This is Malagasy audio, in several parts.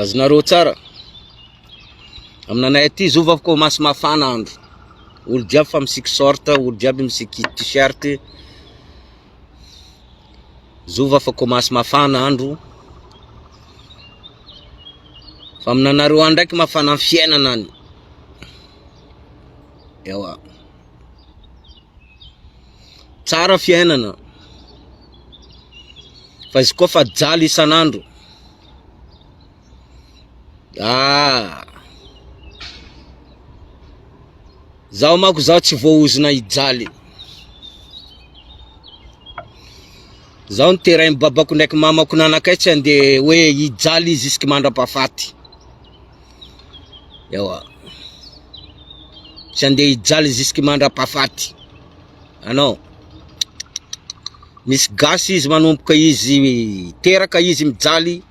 Azonareo tsara. Aminanay aty zovy avy ko masy mafana andro. Olo jiaby fa misiky short, olo jiaby misiky t-shirt. Zovy afa ko masy mafana andro. Fa aminanareo any ndraiky mafana ny fiainana any. Ewa. Tsara fiainana fa izy koa fa jaly isan'andro ah zaho manko zaho tsy voahozona hijaly zaho niterain'i babako ndraiky mamako nanakaiky tsy andeha hoe hijaly izy mandra-pahafaty ewa tsy andeha hijaly jusque mandrapahafaty anao misy gasy izy manomboka izy teraka izy mijaly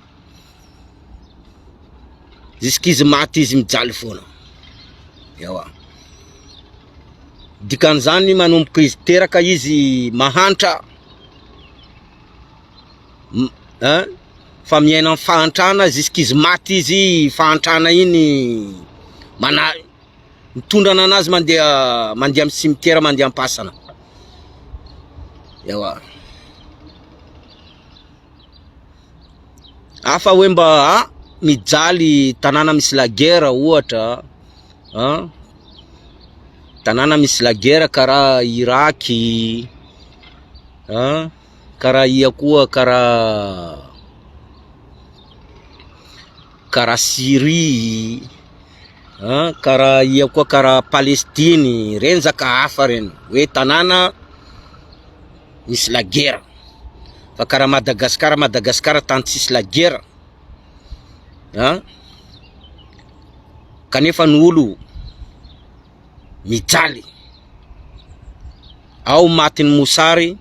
jusque izy maty izy mijaly foana ewa dikan'izany manomboka izy teraka izy mahantra Hein? Fa miaina am fahantrana jusqu'izy maty izy fahantrana iny mana mitondrana anazy mandeha mandeha am cimetière mandeha ampasana. Ewa. Hafa hoe mba a mijaly tanàna misy la guerre ohatra an, tanàna misy la guerre karaha Irak an. Karaha ia koa karaha karaha Syrie an, karaha ia koa karaha Palestine, renjaka hafa reny hoe tanàna misy lagera, fa karaha Madagasikara, Madagasikara tany tsisy lagera an, kanefa ny olo. mijaly. Ao matin'ny mosary,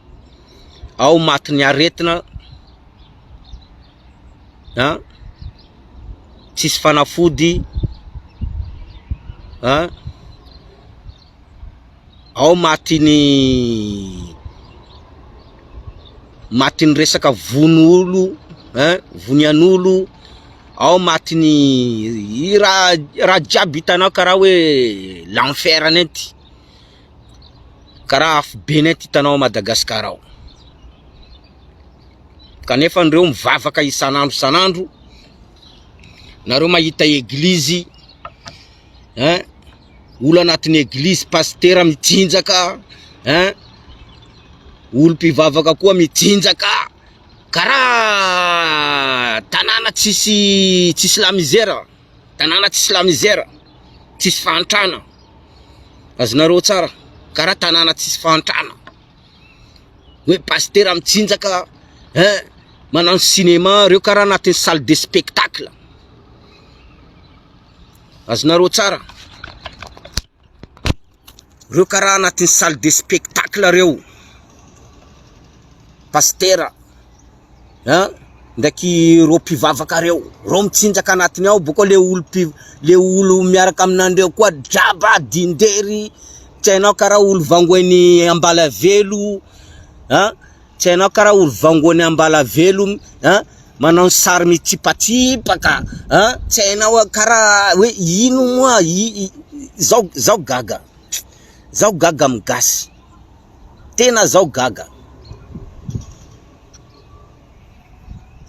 ao matin'ny aretina, ha? tsisy fanafody, ha? ao matin'ny matin'ny resaka vono olo, ha? vonian'olo, ao matin'ny raha raha jiaby hitanao karaha hoe l'enfer nenty karaha afobe nenty hitanao ao Madagascar ao kanefa anreo mivavaka isan'andro isan'andro nareo mahita eglizy hein olo anatin'ny eglizy pasitera mitsinjaka hein olo mpivavaka koa mitsinjaka Karaha tanàna tsisy tsisy la misère, tanàna tsisy la misère, tsisy fahantrana, azonareo tsara, karaha tanàna tsisy fahantrana, hoe pasitera mitsinjaka ein, manano cinéma reo karaha anaty salle de spectacle, azonareo tsara. Reo karaha anatin'ny salle de spectacle reo, pasitera an, ndraiky reo mpivavaka reo, reo mitsinjaka anatiny ao, boko le olo mpi- le olo miaraka aminandreo koa draba, dindery, tsy hainao karaha olo vangoen'i Ambalavelo an. Tsy hainao kara ory vangony ambalavelo a manao ny sary mitsipatsipaka a tsy hainao kara hoe ino moa zao zao gaga zao gaga amin'ny gasy tena zao gaga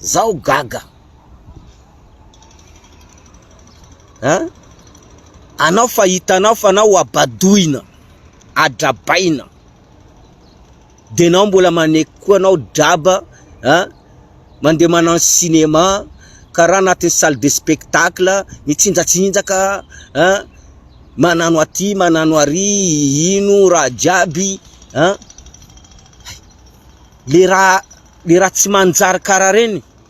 zao gaga a anao fa hitanao fa anao ho abadoina adrabaina De nao mbola maneky koa nao draba a! Mandeha manano cinéma karaha anatin'ny salle de spectacle, mitsinjatsinjaka a! Manano aty, manano ary, ino raha jiaby a! Hay! Le raha, le raha tsy manjary karaha reny.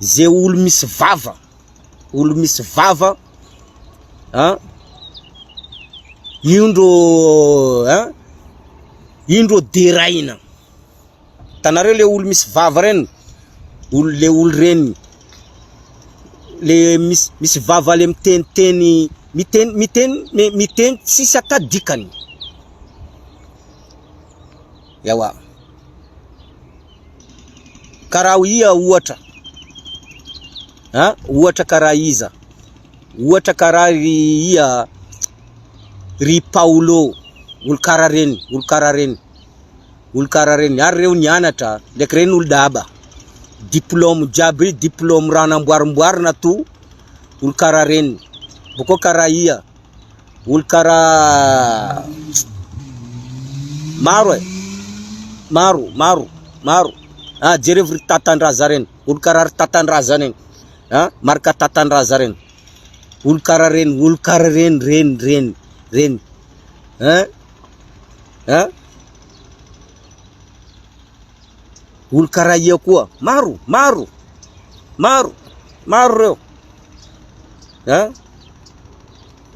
Ze olo misy vava, olo misy vava an, io ndro an, io ndro deraina, hitanareo le olo misy vava reny, olo le olo reny, le misy misy vava le miteniteny, miteny miteny miteny tsisy ata dikany, ewa. Karaha iha ohatra a, ohatra karaha iza? Ohatra karaha ry iha ry Paolo, olo karaha reny, olo karaha reny, olo karaha reny, ary reo nianatra ndraiky reny olo daba, diplôme jiaby ry diplôme raha namboarimboarina to, olo karaha reny, bôkô karaha iha. Olo kara maro e. Maro, maro, maro. Ha ah, jerevo ry tatandraza reny. Olo kara ry tatandraza reny. Ha ah, marka tatandraza reny. Olo kara reny, olo kara reny, reny, reny, reny. Ha? Ah, ha? Ah. Olo kara ia koa. Maro, maro. Maro, maro reo. an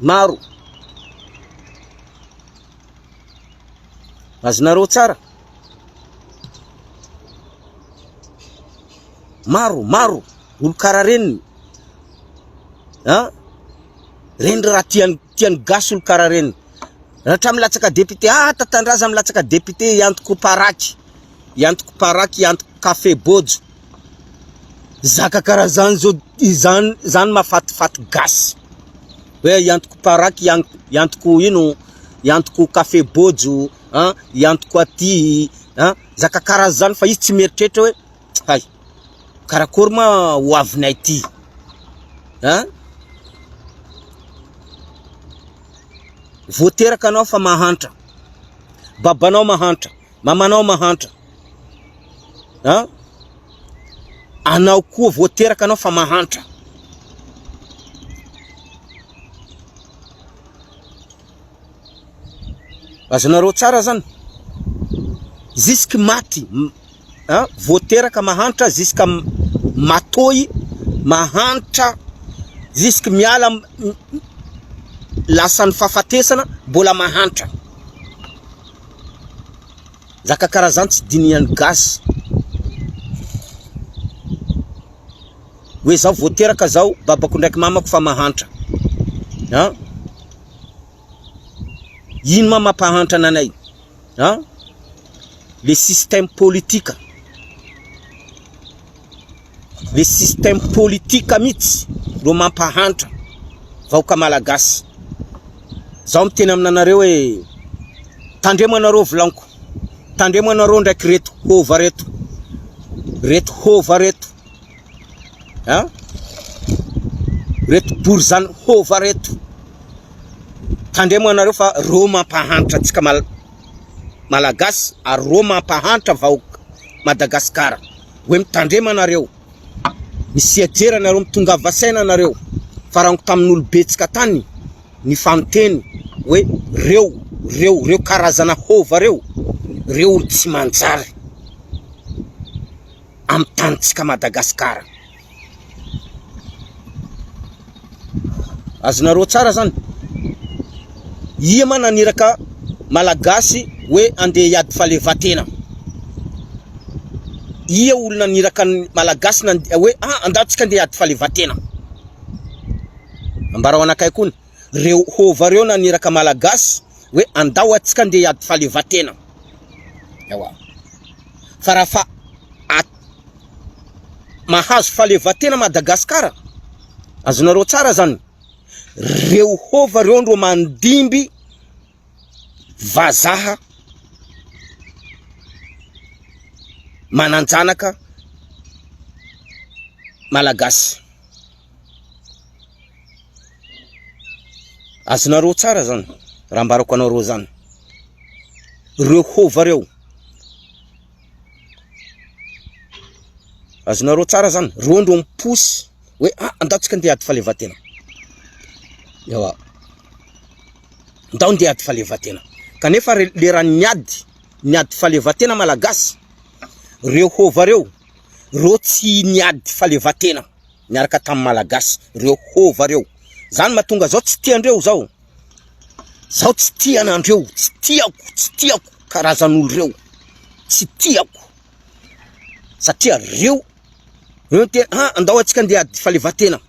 maro azonareo tsara maro maro olo kara reniny an reny raha tiany tiany gasy olo kara reniny raha milatsaka député ah tatandraza milatsaka député iantoko paraky iantoko paraky iantoko kafe bojo Zaka karaha zany zao, izany zany mahafatifaty gasy, hoe i antoko paraky, i antoko ino, i antoko café bojo an, i antoko aty an, zaka karaha zany fa izy tsy mieritreritra hoe hay, karakory ma ho avinay ty an, vao teraka anao fa mahantra, babanao mahantra, Mamanao mahantra an! Anao koa vao teraka anao fa mahantra. Azonareo tsara zany? Jusque maty an! Vao teraka mahantra jusque matoy mahantra jusque miala lasan'ny fahafatesana mbola mahantra. Nzaka karazan tsy dinihan gasy. Oe zaho vao teraka zao babako ndraiky mamako fa mahantra an! Ino ma mampahantra ananay an! Le système politika. le système politique mihitsy no mampahantra vahoaka malagasy, zaho miteny aminanareo hoe tandremo anareo vilaniko, tandremo anareo ndraiky reto hova reto, reto hova reto an, reto borizano hova reto, tandremo anareo fa reo mampahantra antsika malagasy ary reo mampahantra vahoaka Madagasikara. hoe mitandrema nareo misia jera nareo mitongava saina nareo farango tamin'ny olobetsika tany ny fanteny hoe reo reo reo karazana hova reo reo olo tsy manjary amin'ny tanitsika madagasikara Azonareo tsara zany? Ia ma naniraka Malagasy hoe andeha hiady fahaleovantena? Ia olona naniraka ny Malagasy hoe ah andao tsika andeha hiady fahaleovantena? Ambarao anakay koa ny reo hova reo naniraka Malagasy hoe andao atsika andeha hiady fahaleovantena? Ewa. Fa raha fa Mahazo fahaleovantena Madagascar, azonareo tsara zany, reo hova reo no mandimby vazaha mananjanaka Malagasy, azonareo tsara zany raha ambarako anareo zany, reo hova reo. Azonareo tsara zany, reo ndro mi-pousse hoe a andao tsika ndeha hiady fahaleovantena, ewa ndao ndeha hiady fahaleovantena, kanefa leran'ny miady ny ady fahaleovantena malagasy, reo hova reo, reo tsy niady fahaleovantena niaraka tamin'ny malagasy, reo hova reo, zany mahatonga zao tsy tiandreo zao. Zaho tsy tia anandreo, tsy tiako, tsy tiako karazan'olo reo, tsy tiako satria reo reo tena ah andao atsika ndeha ady falevatena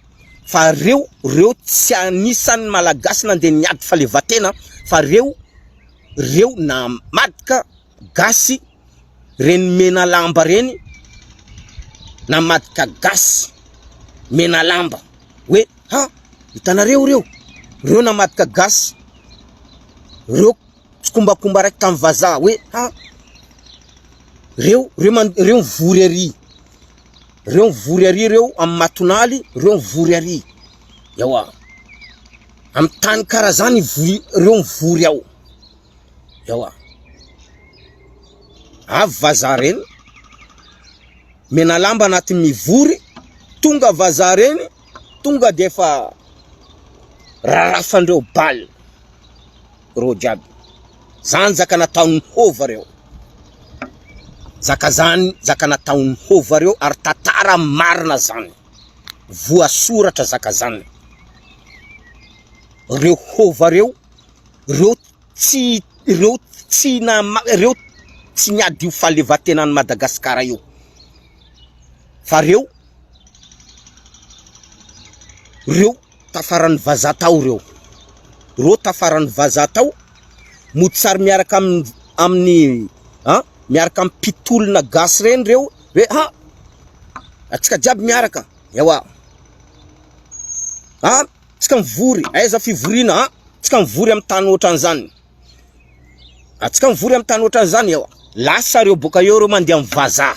fa reo reo tsy anisan'ny malagasy nandeha niady falevatena fa reo reo namadika gasy reny mena lamba reny na madika gasy mena lamba hoe ha hitanareo reo reo na madika gasy reo tsikombakomba raiky tamin'ny vaza hoe ha reo reo man reo vory ary reo vory ary reo amin'ny matonaly reo vory ary ewa amin'ny tany karazany vory reo vory ao Ewa. Avy vazaha reny, mena lamba anaty mivory, tonga vazaha reny, tonga dia efa rarafandreo bal. Reo jiaby. Zany zaka nataon'ny hova reo. Zaka zany, zaka nataon'ny hova reo ary tatara marina zany. Voasoratra zaka zany. Reo hova reo reo tsy reo tsy nama reo tsy miady io fahalevantenan'i Madagasikara io fa reo reo tafaran'ny vazaha tao reo reo tafaran'ny vazaha tao mody sary miaraka amin'ny amin'ny an miaraka amin'ny mpitolona gasy reny reo hoe ha atsika jiaby miaraka ewa ha Tsika mivory, aiza fivoriana a! Tsika mivory amin'ny tany ohatran'izany. A tsika mivory amin'ny tany ohatran'izany ewa. Lasa reo boka eo reo mandeha amin'ny vazaha.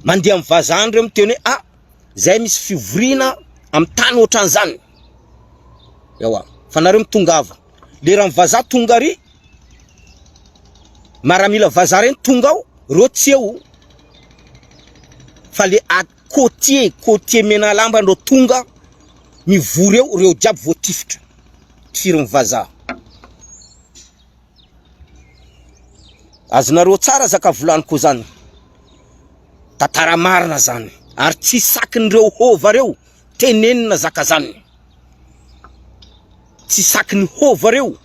Mandeha amin'ny vazaha reo miteny hoe a zay misy fivoriana amin'ny tany ohatran'izany. Ewa, fa nareo mitongava. Leran'ny vazaha tonga ry maramila vazaha reny tonga ao, reo tsy eo. Fa le Côtier, côtier Menalamba ndrô tonga mivory eo reo jiaby voatifitra tifirin'ny vazaha. Azonareo tsara zaka volaniko zany. Tantara marina zany ary tsy sakin'ireo hôva reo tenenina zaka zany. Tsy sakiny hova reo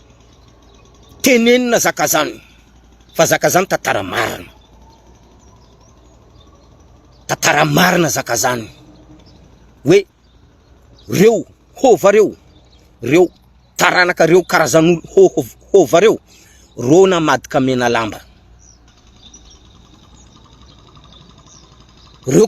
tenenina zaka zany fa zaka zany tantara marina tantara marina zaka zany hoe reo hova reo reo taranaka reo karazanolo hova hova reo ro namadika menalamba reo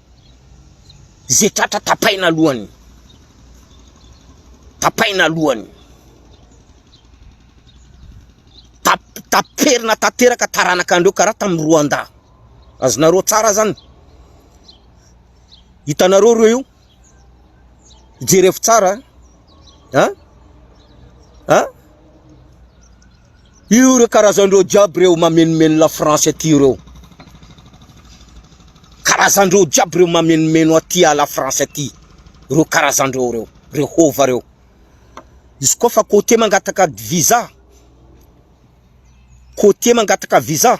Ze tratra tapaina lohany. Tapaina lohany. Taperina tanteraka taranaka andreo karaha tamin'ny Rwanda. Azonareo tsara zany. Hitanareo reo io? Jereo tsara. Ha? Ha? Io ireo karazany ireo jiaby ireo mameno-meno la France aty ireo. Karazany ireo jiaby ireo mameno-meno aty à la France aty. Ireo karazany ireo ireo, ireo hova ireo. Izy koa fa côté mangataka visa, côté mangataka visa,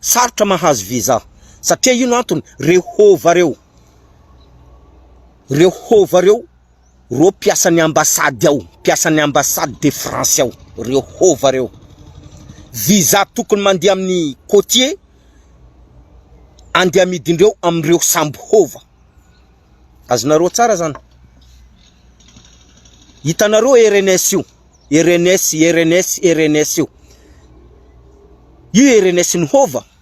sarotra mahazo visa. Satria ino antony? Ireo hova ireo. Ireo hova ireo. reo mpiasan'ny ambassade ao, mpiasan'ny ambassade de France ao, reo hova reo, visa tokony mandeha amin'ny cotier andeha amidindreo amindreo sambo hova, azonareo tsara zany, hitanareo RNS io, RNS, RNS, RNS io, io RNS ny hova.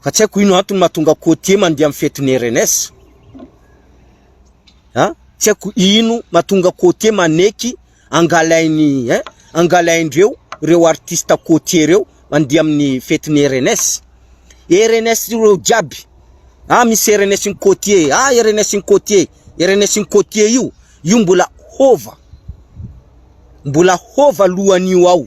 Fa tsy haiko ino antony mahatonga côtier mandeha amin'ny fetin'ny RNS. An? Tsy haiko ino mahatonga côtier maneky angalain'ny hein? Angalaindreo ireo artistes côtier ireo mandeha amin'ny fetin'ny RNS. RNS ireo jiaby. Ah misy RNS ny côtier, ah RNS ny côtier, RNS ny côtier io, io mbola hova. Mbola hova alohan'io ao.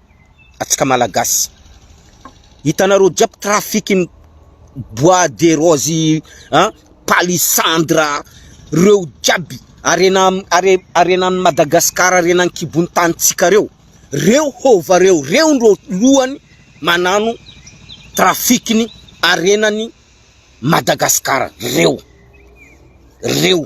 antsika Malagasy. Hitanareo jiaby trafikin'ny bois de rose an, palissandre a, reo jiaby harena hare- harenan'i Madagasikara, harena an-kibon'ny tanintsika reo, reo hova reo, reo ndro lohany manano trafikin'ny harenan'i Madagasikara reo, reo.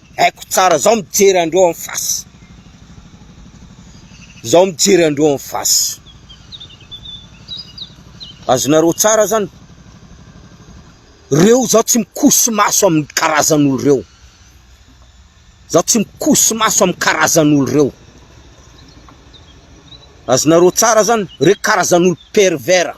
Haiko tsara, zaho mijery andreo en face, zaho mijery andreo en face. Azonareo tsara zany? Reo zaho tsy mikoso maso amin'ny karazan'olo reo. Zaho tsy mikoso maso amin'ny karazan'olo reo. Azonareo tsara zany? Reo karazan'olo pervers.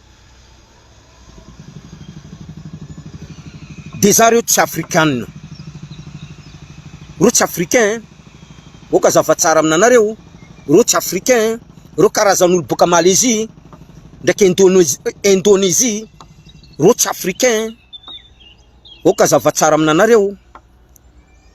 Dia za reo tsy afrikanina. Reo tsy africain eh. Oka azava tsara aminanareo. Reo tsy africain eh. Reo karazan'olo boka Malaisie ndraiky Indonesie, Indonesie. Reo tsy africain eh. Oka azava tsara aminanareo.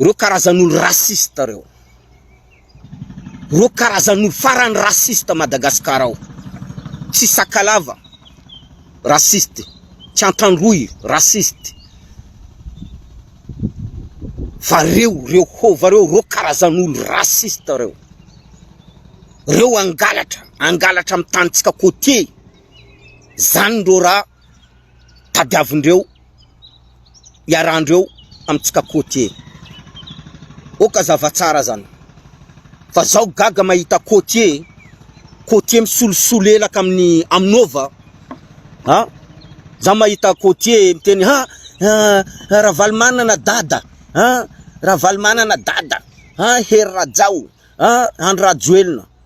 Ireo karazan'olo raciste reo. Ireo karazan'olo farany raciste Madagascar ao. Tsy Sakalava, raciste. Tsy Antandroy, raciste. Fa reo, reo hova reo, reo karazan'olo raciste reo. Reo angalatra, angalatra amin'ny tanitsika côtier. Zany ndreo raha. tadiavindreo, iarandreo amintsika côtier. Oka zava tsara zany fa zao gaga mahita côtier, côtier misolosolo elaka amin'ny aminova ha za mahita côtier miteny ha Ravalomanana dada ha Ravalomanana dada ha Hery Rajao ha Andry Rajoelina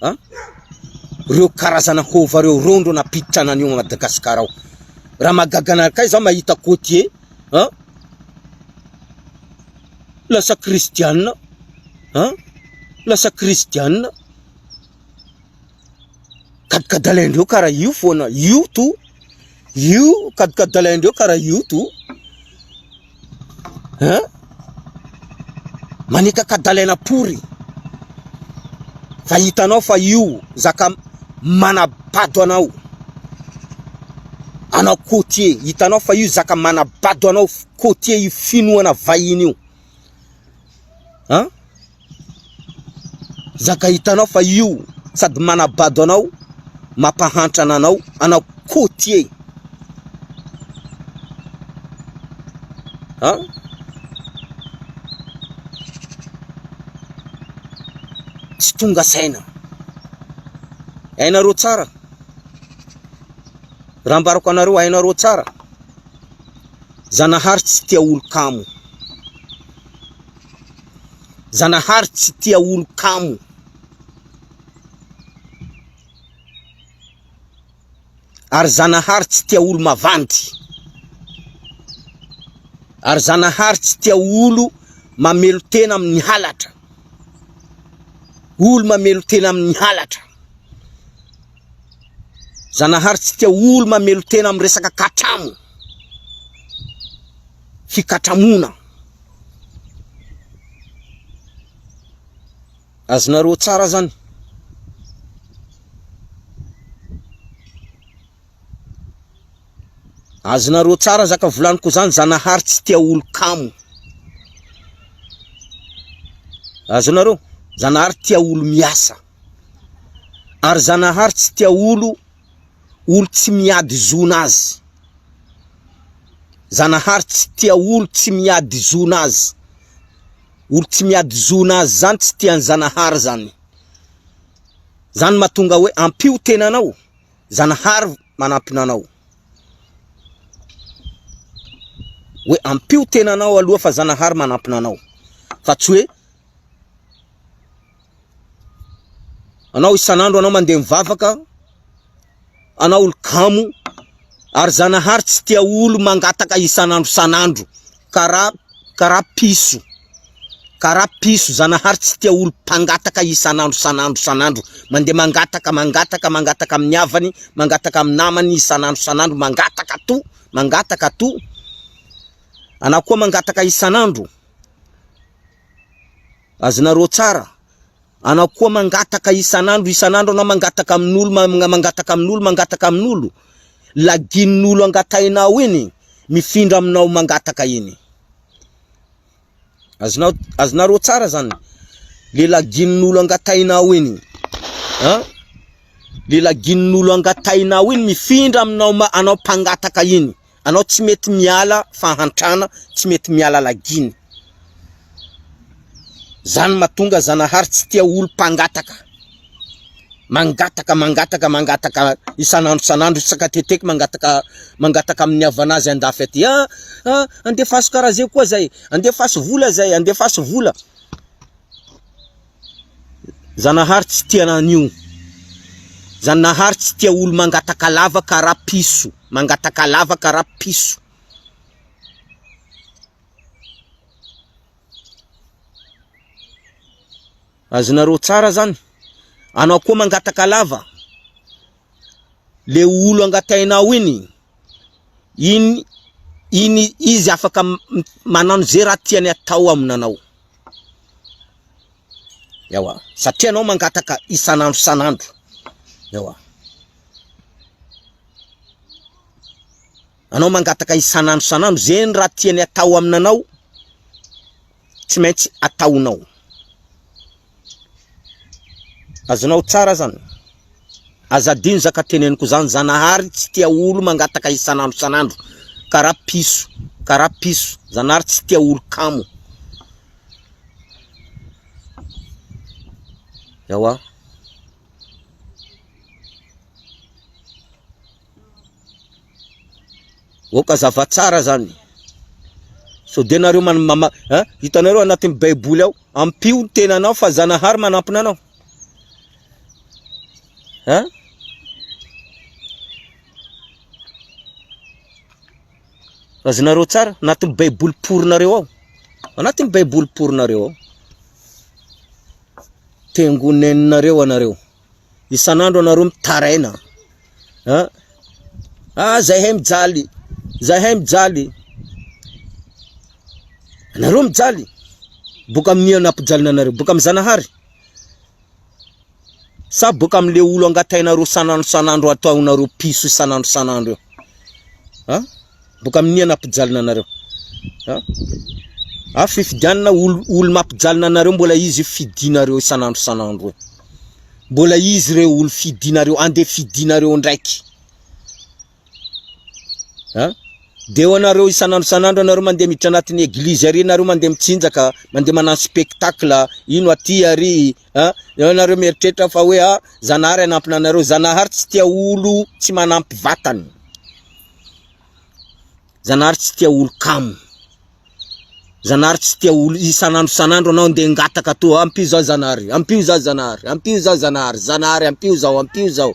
an! reo karazana hova reo reo ndro nampiditra anani ao Madagascar ao raha mahagaga anareo kay zaho mahita cotier an! lasa kristianina an! lasa kristianina gadgadalaindreo kara io foana io to Io kadikadalaindreo karaha io to hein maneka kadalaina pory fa hitanao fa io zaka manabado anao anao côtier hitanao fa io zaka manabado anao côtier io finoana vahiny io hein Zaka hitanao fa io sady manabado anao, mampahantra ananao, anao côtier an! Tsy tonga saina. Hainareo tsara, raha ambarako anareo hainareo tsara, Zanahary tsy tia olon-kamo. Zanahary tsy tia olo kamo. Ary Zanahary tsy tia olo mavandy. Ary Zanahary tsy tia olo mamelo tena amin'ny halatra. Olo mamelo tena amin'ny halatra. Zanahary tsy tia olo mamelo tena amin'ny resaka katramo. hikatramona. Azonareo tsara zany. Azonareo tsara zaka volaniko zany Zanahary tsy tia olon-kamo. Azonareo? Zanahary tia olo miasa. Ary Zanahary tsy tia olo olo tsy miady zona azy zanahary tsy tia olo tsy miady zona azy olo tsy miady zona azy zany tsy tia ny zanahary zany zany matonga hoe ampio tenanao zanahary manampina anao hoe ampio tenanao aloha fa zanahary manampina anao fa tsy hoe Anao isan'andro anao mandeha mivavaka, anao olo kamo, ary Zanahary tsy tia olo mangataka isan'andro isan'andro, karaha karaha piso, karaha piso, Zanahary tsy tia olo mpangataka isan'andro isan'andro isan'andro, mandeha mangataka, mangataka, mangataka amin'ny havany, mangataka amin'ny namany isan'andro isan'andro, mangataka ato, mangataka ato, anao koa mangataka isan'andro, Azonareo tsara. Anao koa mangataka isan'andro, isan'andro anao mangataka amin'olo, mangataka amin'olo, mangataka amin'olo. Laginin'olo angatahinao iny, mifindra aminao mangataka iny. Azonao, azonareo tsara zany. Le laginin'olo angatahinao iny. Hein? Le laginin'olo angatahinao iny mifindra aminao, anao mpangataka iny. Anao tsy mety miala fahantrana tsy mety miala lagina zany matonga zanahary tsy tia olo mpangataka mangataka mangataka mangataka isan'andro isan'andro isaka teteky mangataka mangataka amin'ny havanazy andafy aty a ah, ah, andefaso karaha zay koa zay andefaso vola zay andefaso vola Zanahary tsy tia anio. Zanahary tsy tia olo mangataka lavaka ra piso. Mangataka lavaka ra piso. Azonareo tsara zany. Anao koa mangataka lava. Le olo angatainao iny. Iny iny izy afaka manano ze raha tiany atao aminanao. Ewa satria anao mangataka isan'andro isan'andro ewa anao mangataka isan'andro isan'andro zegny raha tiany atao aminanao tsy maintsy ataonao azonao tsara zany. Aza adino za ka teneniko zany Zanahary tsy tia olo mangataka isan'andro isan'andro karaha piso karaha piso Zanahary tsy tia olo kamo Ewa Oka zava tsara zany Sao de nareo man mama hitanareo anatin'ny baiboly ao ampio ny tenanao fa Zanahary manampina anao Hein? Azonareo tsara, anatin'ny baiboly porinareo ao. Anatin'ny baiboly porinareo ao. Tengoneninareo anareo. Isan'andro anareo mitaraina. Hein? Ah, zahay mijaly. Zahay mijaly. Anareo mijaly. Boka amin'ny anampijalina anareo. Boka amin'ny Zanahary. Sa boka amle olo angatainareo sanandro sanandro ataonareo piso isanandro sanandro eo an boka aminia napijalina anareo an a fifidianana olo olo mapijalina anareo mbola izy fidinareo isanandro sanandro eo mbola izy reo olo fidinareo ande fidinareo ndraiky Ha? Dia eo anareo isan'andro isan'andro anareo mandeha miditra anatin'ny eglizy ary nareo mandeha mitsinjaka, mandeha manano spectacle, ino aty ary, ha? Eo anareo mieritreritra fa hoe ha, Zanahary hanampy anareo, Zanahary tsy tia olo tsy manampy vatany. Zanahary tsy tia olo kamo. Zanahary tsy tia olo isan'andro isan'andro anao ndeha ngataka atoa ampio zah Zanahary ampio zah Zanahary ampio zah Zanahary Zanahary ampio zao ampio zao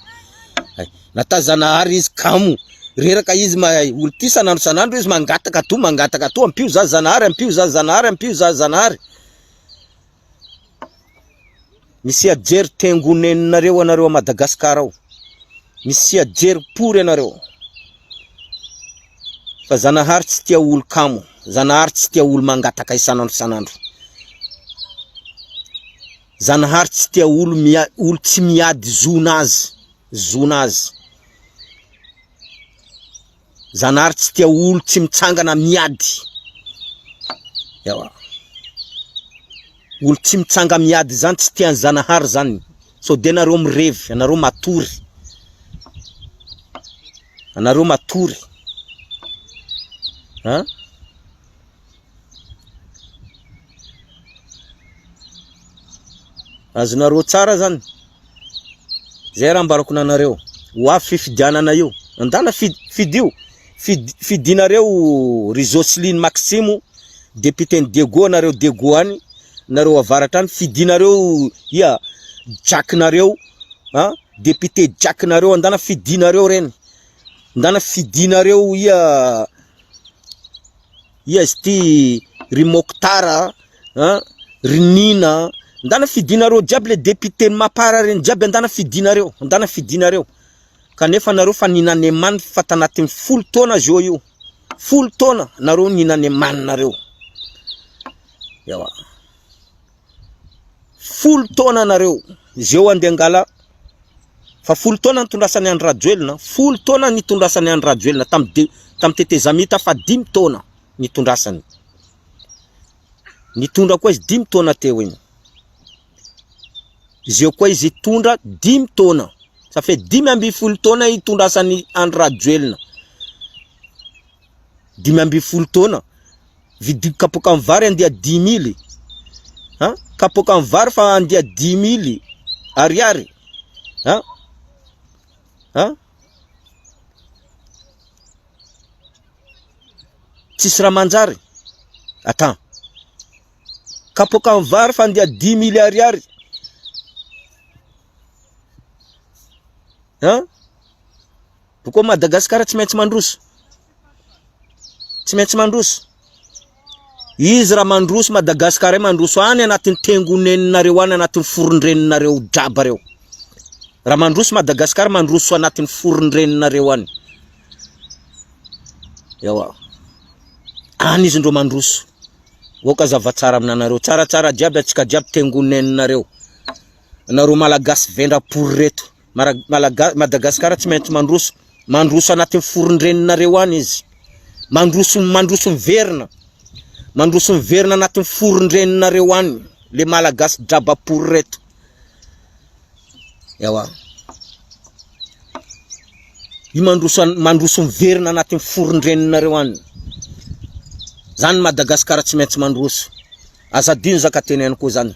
hay nata Zanahary izy kamo reraka izy ma olo ty isan'andro isan'andro izy mangataka atoa mangataka atoa ampio zah Zanahary ampio zah Zanahary ampio zah Zanahary Misy hiadijery tengo nenonareo anareo a Madagascar ao. Misy hiadijery pory anareo. Fa Zanahary tsy tia olo kamo. Zanahary tsy tia olo mangataka isan'andro isan'andro. Zanahary tsy tia olo mia, olo tsy miady zona azy, zona azy. Zanahary tsy tia olo tsy mitsangana miady. Ewa. Olo tsy mitsanga miady zany tsy tian'i Zanahary zany. Sao dia nareo mirevy, anareo matory. Anareo matory. An? azonareo tsara zany zay raha ambarako nanareo ho avy fifidianana io andana fidio fidinareo ry Jocelyn Maximo député ny Dego nareo Dego any nareo avaratra any fidinareo ia Jack nareo a député Jack nareo andana fidinareo reny andana fidinareo ia Ia izy ity ry Mokhtar a, ry Nina a, ndana fidinareo jiaby le député ny mapar reny jiaby andana fidinareo, andana fidinareo, kanefa nareo fa ninane man fa tanatin'ny folo taona zao io, folo taona nareo ninane man nareo, ewa. Folo taona nareo zeo ande angala fa folo taona nitondrasany Andry Rajoelina folo taona nitondrasany Andry Rajoelina tam de tam tetezamita fa dimy taona nitondrasany nitondra koa izy dimy taona teo iny zeo koa izy hitondra dimy taona ça fait dimy amby folo taona hitondrasany Andry Rajoelina dimy amby folo taona Vidiako kapoaka ny vary andia dimy mily an! Kapoaka ny vary fa andia dimy mily ariary an! An! Tsisy raha manjary atan! Kapoaka ny vary fa andia dimy mily ariary an! Boko Madagasikara tsy maintsy mandroso. Tsy maintsy mandroso. Izy raha mandroso Madagasikara mandroso any anatin'ny tengoneninareo any anatin'ny forondreninareo draba reo. Raha mandroso Madagasikara mandroso anatin'ny forondreninareo any. Ewa. Any izy ndro mandroso. Oka zavatsara aminanareo. Tsaratsara jiaby atsika jiaby tengoneninareo. Nareo malagasy vendra pory reto. Madagascar tsy maintsy mandroso, mandroso anatin'ny foron-dreninareo any izy, mandroso, mandroso miverina, mandroso miverina anatin'ny foron-dreninareo any le malagasy drabapory reto. Ewa. Io mandroso, mandroso miverina anatin'ny foron-dreninareo any. Zany Madagascar tsy maintsy mandroso. Azadino zaka teneniko zany.